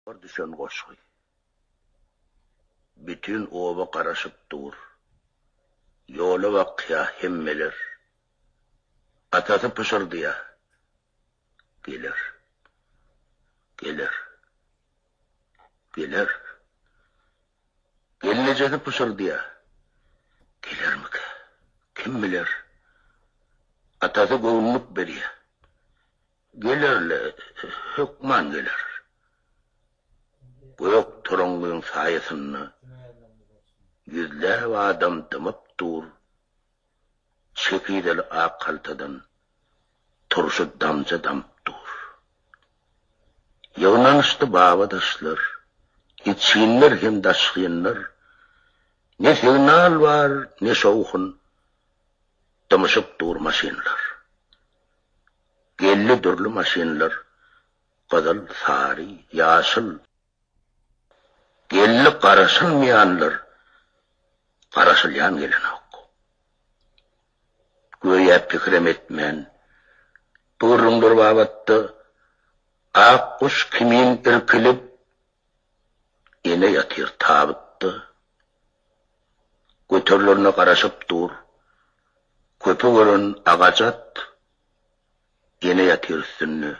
Bar düşen goşgy. Bütin oba garaşyp dur. Ýola bakýa hemmeler. Atasy pyşyrdýa. Geler. Geler. Geler. Gelnejesi pyşyrdýa. Gelermika? Kim biler? Atasy göwnülik berýä. Geler-le, hökman geler. Gök torangyň saýasynda ýüzläp adam dymyp dur, çekizeli ak haltadan turşy damja damyp dur. Ýygnanyşdy baba-daşlar, içginler hem daşgynlar, ne signal bar, ne şowhun, dymyşyp dur maşynlar. Geldi dürli maşynlar, gyzyl, sary, ýaşyl. Geldi garaşylmaýanlar, garaşylýan gelenok. Göýä pikirem etmän, bu gürrüňler babatda ak guş kimin irkilip, ene ýatyr tabytda. Göterilerine garaşyp dur, köpi gören agajat Ýene ýatyr üstünde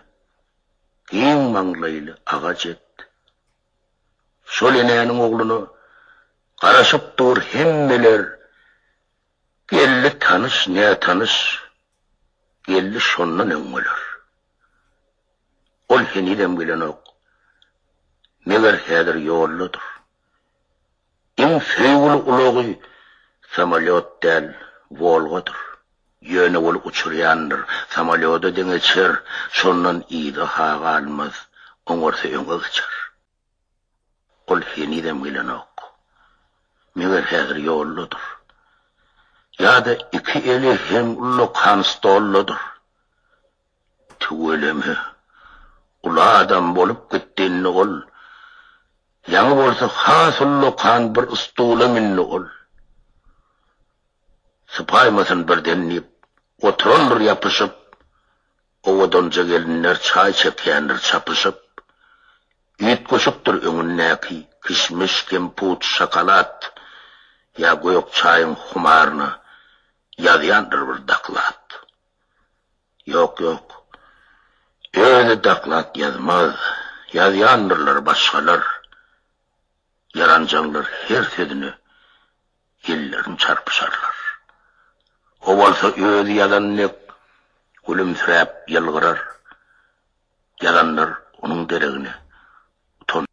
giň maňlaýly agaç et. Şol enäniň ogluna garaşyp dur hemmeler, geldi tanyş, nätanyş, geldi şondan öň bolar. Ol henizem gelenok, meger häzir ýoldadyr. Iň söýgüli ulagy samolýot däl, Wolgadyr. Ýöne ol uçurýandyr, samolýoda deňeçer, şondan yza-ha galmaz, oňarsa öňe geçer. Ol henizem gelenok. Meger häzir ýoldadyr. Ýa-da iki eli heňullakan stoldadyr. Tüweleme. Uly adam bolup gitdinde ol. Ýaňy bolsa has ullakan bir stula mündi ol. Sypaýmasyn birden diýip, oturandyr ýapyşyp. Owadanja gelinler çaý çekýändir çapyşyp. Üýtgeşikdir öňündäki, kişmiş, kemput, şokolad. Ýa gök çaýyň humaryna ýazýandyr bir doklad. Ýok, ýok. Özi doklad ýazmaz. Ýazýandyrlar başgalar. Ýaranjaňlar her sözüne ellerini çarpyşarlar. O bolsa özi ýazan dek gülümsiräp ýylgyrar. Ýazanlar onuň deregine utanarlar.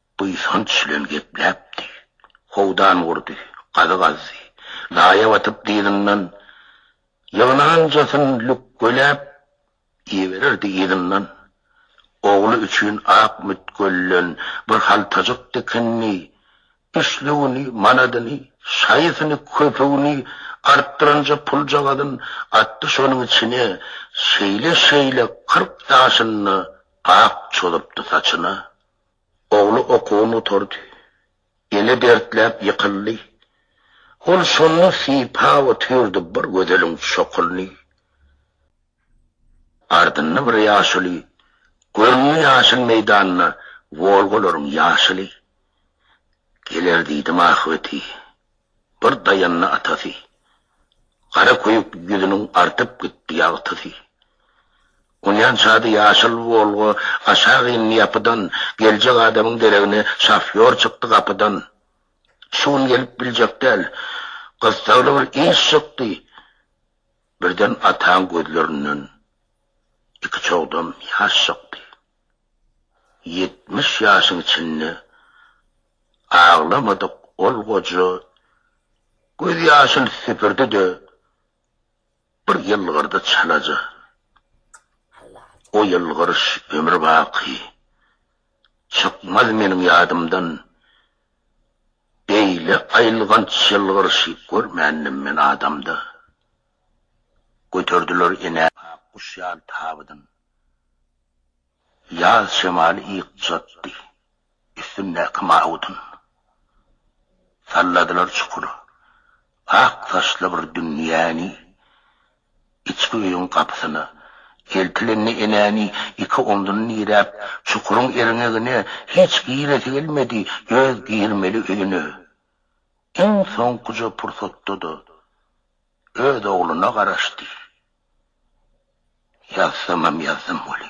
buýsanç bilen gepläpdi. Howdan gurdy, gazy gazdy. Laýa batyp dyzyndan ýygnanjasyn lükgeläp ibererdi yzyndan. Ogly üçin ak mütgölden bir haltajyk dikindi. Üçlügini, manadyny, şaýysyny, köpügini artdyranja puljagazyn atdy şonuň içine. Şeýle-şeýle kyrk ýaşynda ak çozupdy saçyna. Ogly okuwyn gutardy. Eli dertläp ýykyldy. Ol şonda sypa otyrdy bir gözeliň çokulyny. Ardynda bir ýaşuly göründi ýaşyl meýdanda Wolgalaryň ýaşyly. Geler diýdim ahbeti, bir daýandy atasy. Gara köýük ýüzüniň artyp gitdi ýagtysy. Uýan çady ýaşyl Wolga aşak indi ýapydan, Geljek adamyň deregine şofýor çykdy gapydan. Şu gün gelip biljek däl, gyssagly bir iş çykdy, Birden ataň gözlerinden iki çogdam ýaş çykdy. Ýetmiş ýaşyň içinde aglamadyk ol goja, Gözýaşyn süpürdi-de, Bir ýylgyrdy çalaja. O ýylgyryş ömür baky. Çykmaz meniň ýadymdan. Beýle aýylganç ýylgyryşy görmändim men adamda. Göterdiler enä ak guş ýaly tabydyn. Ýaz şemaly ýykjatdy. Üstündäki mawudyn. Salladylar çukur. Ak saçly bir dünýäni. Içki öýüň gapysyna. Eltilende enäni iki omzuny diräp, çukuryň erňegine hiç giresi gelmedi, öz girmeli öýüne. Iň soňkuja pursatda-da öz ogluna garaşdy. Ýazsamam ýazdym weli.